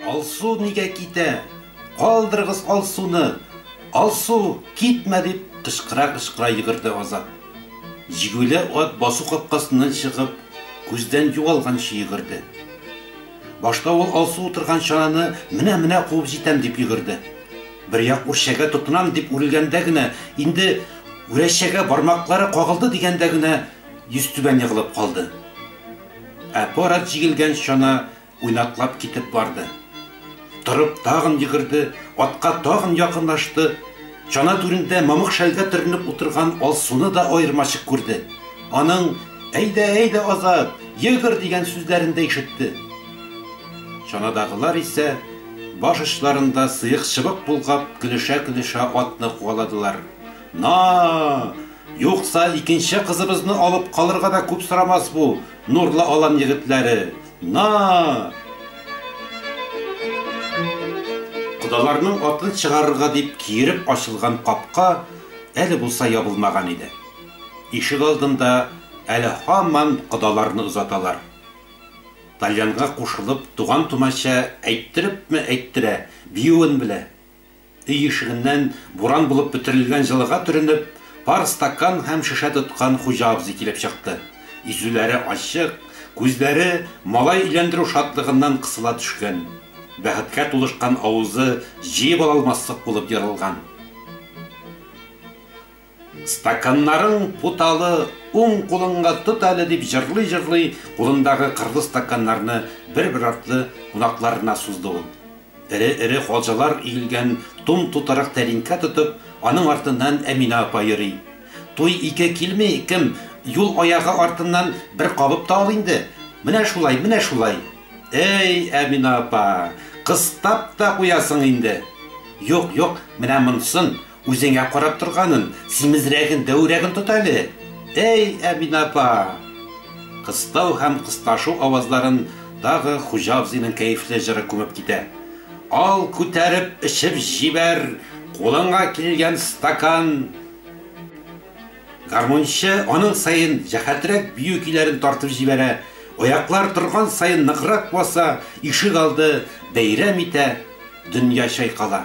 Алсу нигә китә? Калдырыгыз Алсуны! Алсу, китмә! дип кычкыра-кычкыра йөгерде Азат. Җигүле ат басу капкасыннан чыгып, күздән югалганчы йөгерде. Башта ул Алсу утырган чананы менә-менә куып җитәм дип йөгерде. Бер як үрчәгә тотынам дип үрелгәндә генә, инде үрәчәгә бармаклары кагылды дигәндә генә йөзтүбән егылып калды. Ә пар ат җигелгән чана уйнаклап китеп барды. Торып тагын йөгерде, атка тагын якынлашты, чана түрендә мамык шәлгә төренеп утырган Алсуны да аермачык күрде, аның Әйдә, әйдә, Азат, йөгер! дигән сүзләрен дә ишетте. Чанадагылар исә, баш очларында сыек-чыбык болгап, көлешә-көлешә атны куаладылар. На! Юкса, икенче кызыбызны алып калырга да күп сорамас бу Нурлы Алан егетләре! На! Кодаларның атын чыгарырга дип киереп ачылган капка әле булса ябылмаган иде. Ишегалдында әле һаман кодаларны озаталар. Тальянга кушылып, туган-тумача әйттерепме әйттерә, биюен белә. Өй ишегеннән буран булып бөтерелгән җылыга төренеп, пар стакан һәм шешә тоткан хуҗа абзый килеп чыкты. Йөзүләре ачык, күзләре малай өйләндерү шатлыгыннан кысыла төшкән. Бәхеткә тулышкан авызы җыеп ала алмаслык булып ерылган. Стаканнарың путалы, уң кулыңа тот әле, дип җырлый-җырлый, кулындагы кырлы стаканнарны бер-бер артлы кунакларына сузды ул. Эре-эре хаҗалар өелгән тум тутырык тәлинкә тотып, аның артыннан Әминә апа йөри. Туй ике килми, кем, юл аягы артыннан бер кабып та ал инде. Менә шулай, менә шулай. Әй, Әминә апа, кыстап та куясың инде. Юк, юк, менә монсын, Үзеңә карап торганын, симезрәген, дәүрәген тот әле! Әй, Әминә апа! Кыстау һәм кысташу авазларын тагы хуҗа абзыйның кәефле җыры күмеп китә. Ал, күтәреп эчеп җибәр, кулыңа килгән стакан! Гармунчы аның саен җәһәтрәк бию көйләрен тартып җибәрә, аяклар торган саен ныграк баса, ишегалды бәйрәм итә, дөнья чайкала.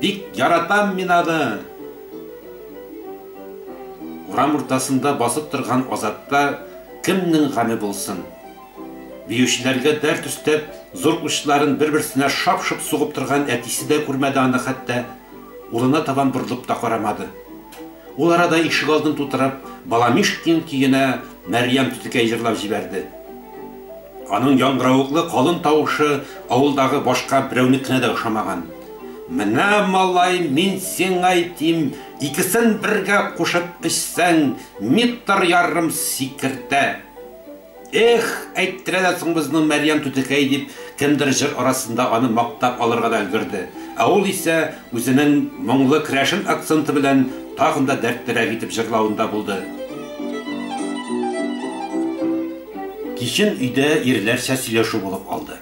Бик яратам мин аны! Урам уртасында басып торган Азатта кемнең гаме булсын? Биючеләргә дәрт өстәп, зур учларын бер-берсенә шап-шоп сугып торган әтисе дә күрмәде аны хәтта, улына табан борылып та карамады. Ул арада ишегалдын тутырып Баламишкин көенә Мәрьям түтекәй җырлап җибәрде. Аның яңгыравыклы калын тавышы авылдагы башка берәүнекенә дә ошамаган. Менә, малай, мин сиңа әйтим, икесен бергә кушып эчсәң, метр ярым сикертә. Эх, әйттерә дә соң безнең Мәрьям түтекәй, дип, кемдер җыр арасында аны мактап алырга да өлгерде, ә ул исә үзенең моңлы керәшен акценты белән тагын да дәртлерәк итеп җырлавында булды. Кичен өйдә ирләрчә сөйләшү булып алды.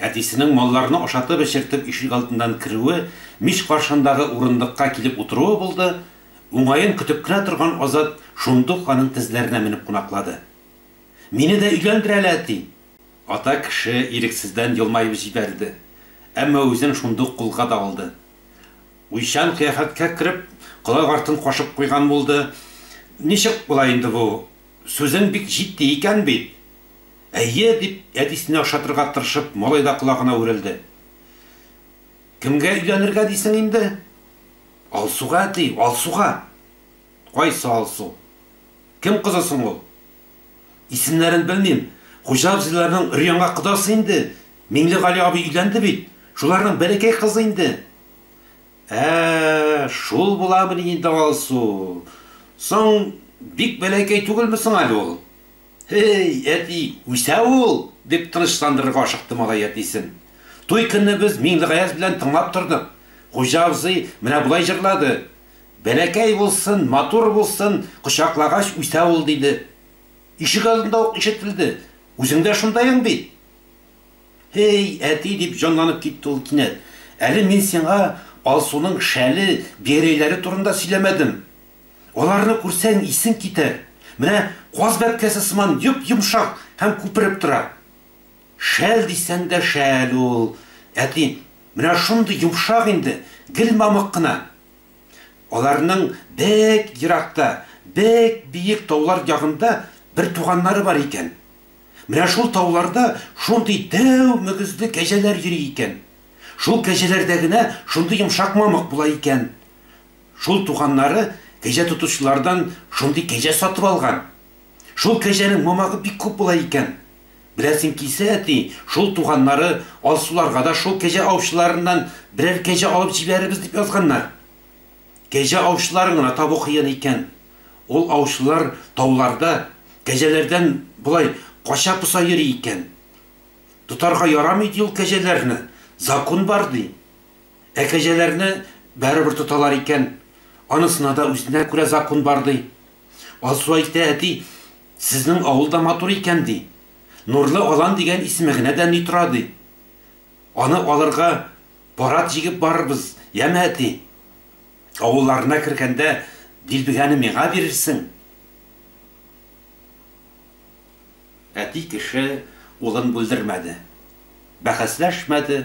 Әтисенең малларны ашатып-эчертеп ишегалдыннан керүе, мич каршындагы урындыкка килеп утыруы булды, уңаен көтеп кенә торган Азат шундук аның тезләренә менеп кунаклады. Мине дә өйләндер әле, әти! Ата кеше ирексездән елмаеп җибәрде, әмма үзен шундук кулга да алды. Уйчан кыяфәткә кереп, колак артын кашып куйган булды, Ничек була инде бу? Сүзең бик җитди икән бит. Әйе, дип, әтисенә ошатырга тырышып, малай да колагына үрелде. Кемгә өйләнергә дисең инде? Алсуга, әти, Алсуга! Кайсы Алсу? Кем кызы соң ул? Исемнәрен белмим, хуҗа абзыйларның өр-яңа кодасы инде, Миңлегали абый өйләнде бит, шуларның бәләкәй кызы инде. Ә-ә-ә, шул буламыни инде Алсу? Соң, бик бәләкәй түгелме соң әле ул? Һе-ей, әти, үсә ул! дип тынычландырырга ашыкты малай әтисен. Туй көнне без Миңлегаяз белән тыңлап тордык. Хуҗа абзый менә болай җырлады, Бәләкәй булсын, матур булсын, кочаклагач үсә ул, диде. Ишегалдында ук ишетелде. Үзең дә шундайың бит? Һей, әти! дип җанланып китте ул кинәт. Әле мин сиңа Алсуның шәле, биәрәйләре турында сөйләмәдем. Аларны күрсәң, исең китәр. Менә каз бәбкәсе сыман йоп-йомшак һәм күпереп тора. Шәл дисәң дә шәл ул, әти, менә шундый йомшак инде, гел мамык кына. Аларның бек еракта, бек биек таулар ягында бер туганнары бар икән. Менә шул тауларда шундый дәү мөгезле кәҗәләр йөри икән. Шул кәҗәләрдә генә шундый йомшак мамык була икән. Шул туганнары кәҗә тотучылардан шундый кәҗә сатып алган. Шул кәҗәнең мамагы бик күп була икән. Беләсең килсә, әти, шул туганнары Алсуларга да шул кәҗә аучыларыннан берәр кәҗә алып җибәрербез дип язганнар. Кәҗә аучыларын гына табу кыен икән. Ул аучылар тауларда кәҗәләрдән болай кача-поса йөри икән. Тотарга ярамый, ди, ул кәҗәләрне, закун бар, ди. Ә кәҗәләрне барыбер тоталар икән. Анысына да үзенә күрә закун бар, ди. Алсу әйтә, Әти, сезнең авыл да матур икән, ди. Нурлы Алан дигән исеме генә дә ни тора, ди. Аны алырга Парад җигеп барырбыз, яме, әти! Авылларына кергәндә, дилбегәне миңа бирерсең! Әти кеше улын бүлдермәде. Бәхәсләшмәде,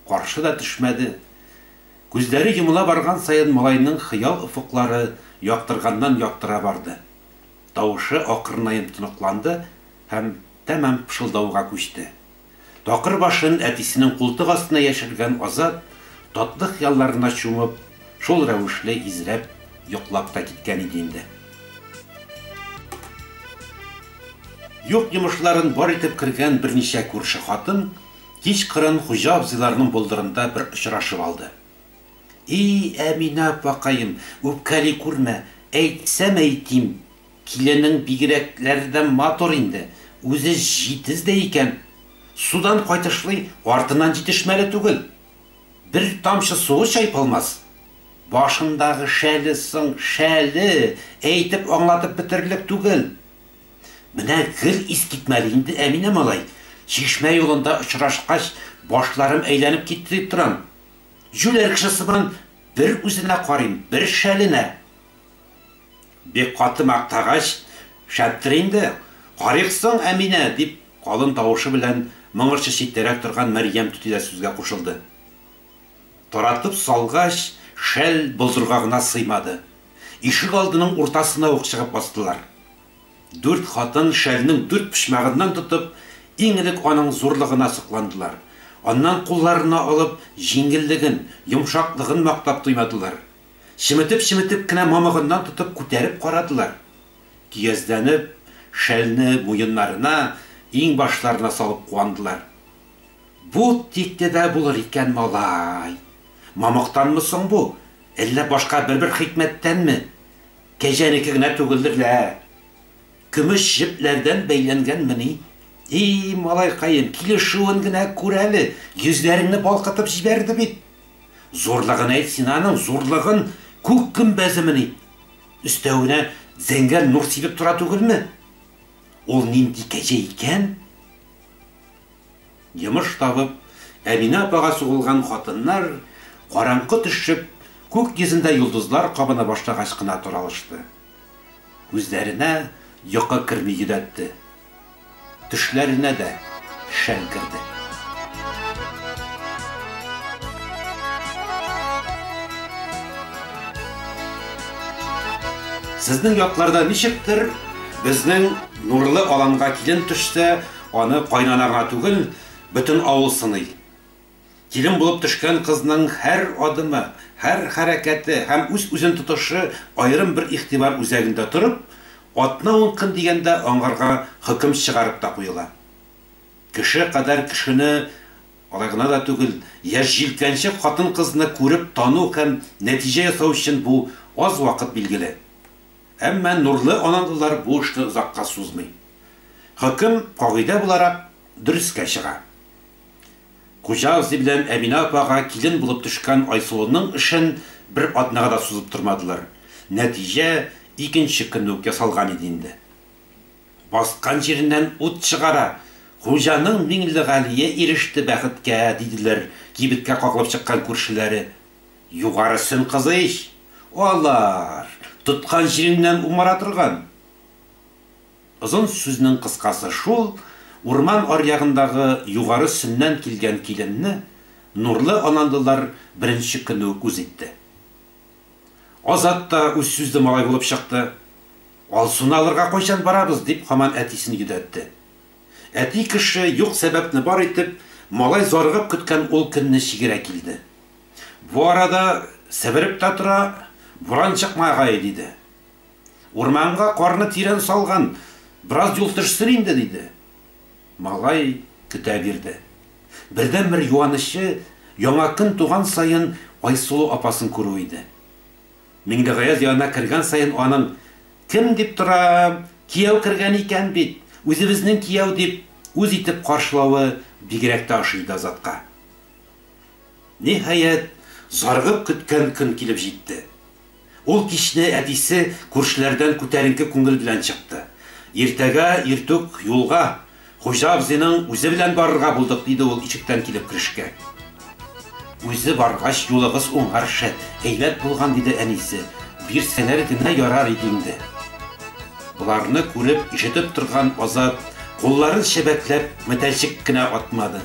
каршы да төшмәде. Күзләре йомыла барган саен малайның хыял офыклары яктырганнан-яктыра барды. Тавышы акрынаем тоныкланды һәм тәмам пышылдауга күчте. Такыр башын әтисенең култык астына яшергән Азат, татлы хыялларына чумып, шул рәвешле изрәп йоклап та киткән иде инде. Юк йомышларын бар итеп кергән берничә күрше хатын кич кырын хуҗа абзыйларның болдырында бер очрашып алды. И, Әминә апакаем, үпкәли күрмә, әйтсәм әйтим, Киленең бигрәкләр дә матур инде, үзе җитез дә икән. Судан кайтышлый артыннан җитешмәле түгел. Бер тамчы суы чайпалмас. Башындагы шәле соң шәле, әйтеп аңлатып бетерлек түгел. Менә гел искитмәле инде Әминә малай, чишмә юлында очрашкач, башларым әйләнеп китте дип торам. Җүләр кеше сыман бер үзенә карыйм, бер шәленә. Бик каты мактагач, шәптер инде, карыйк соң, Әминә! дип, калын тавышы белән моңарчы читтәрәк торган Мәрьям түти дә сүзгә кушылды. Таратып салгач, шәл болдырга гына сыймады. Ишегалдының уртасына ук чыгып бастылар. Дүрт хатын шәлнең дүрт почмагыннан тотып, иң элек аның зурлыгына сокландылар, аннан кулларына алып, җиңеллеген, йомшаклыгын мактап туймадылар. Чеметеп-чеметеп кенә мамыгыннан тотып күтәреп карадылар. Көязләнеп, шәлне муеннарына, иңбашларына салып куандылар. Бу тикле дә булыр икән, малай! Мамыктанмы соң бу, әллә башка бер-бер хикмәттәнме? Кәҗәнеке генә түгелдер лә! Көмеш җепләрдән бәйләнгәнмени? И, малайкаем, килешүен генә күр әле, йөзләреңне балкытып җибәрде бит! Зурлыгын әйт син аның, зурлыгын! Күк гөмбәземени? Өстәвенә зәңгәр нур сибеп тора түгелме? Ул нинди кәҗә икән? Йомыш табып, Әминә апага сугылган хатыннар, караңгы төшеп, күк йөзендә йолдызлар кабына башлагач кына таралышты. Күзләренә йокы керми йөдәтте. Төшләренә дә шәл керде. Сезнең якларда ничектер, безнең нурлы аланга килен төшсә, аны кайнана гына түгел, бөтен авыл сыный. Килен булып төшкән кызның һәр адымы, һәр хәрәкәте һәм үз-үзен тотышы аерым бер игътибар үзәгендә торып, атна-ун көн дигәндә аңарга хөкем чыгарып та куела. Кеше кадәр кешене, алай гына да түгел, яшь җилкәнчек хатын-кызны күреп тану һәм нәтиҗә ясау өчен бу аз вакыт билгеле. Әмма нурлы аналылар бу эшне озакка сузмый. Хөкем, кагыйдә буларак, дөреска чыга. Хуҗагызый белән Әминә апага килен булып төшкән Айсылуның эшен бер атнага да сузып тормадылар. Нәтиҗә икенче көнне үк ясалган иде инде. Баскан җиреннән ут чыгара, хуҗаның Миңлегалие иреште бәхеткә, диделәр кибеткә кагылып чыккан күршеләре. Югарысын кызы ич алар, тоткан җиреңнән умара торган. Озын сүзнең кыскасы шул, урман аръягындагы Югары Сөннән килгән киленне Нурлы Ананлылар беренче көнне үк үз итте. Азат та үз сүзле малай булып чыкты. Алсуны алырга кайчан барабыз? дип һаман әтисен йөдәтте. Әти кеше юк сәбәпне бар итеп, малай зарыгып көткән ул көнне чигерә килде. Бу арада сәбереп тә тора, буран чыкмагае, диде. Урманга карны тирән салган, бераз юл төшсен инде, диде. Малай көтә бирде. Бердәнбер юанычы яңа көн туган саен Айсылу апасын күрү иде. Миңлегаяз янына кергән саен аның, Кем дип торам, кияү кергән икән бит, үзебезнең кияү, дип үз итеп каршылавы бигрәк тә ошый иде Азатка. Ниһаять, зарыгып көткән көн килеп җитте. Ул кичне әтисе күршеләрдән күтәренке күңел белән чыкты. Иртәгә иртүк юлга, хуҗа абзыйның үзе белән барырга булдык, диде ул ишектән килеп керешкә. Үзе баргач, юлыгыз уңарчы, әйбәт булган, диде әнисе. Бирсәләр генә ярар иде инде. Боларны күреп, ишетеп торган Азат, кулларын чәбәкләп, метәлчек кенә атмады.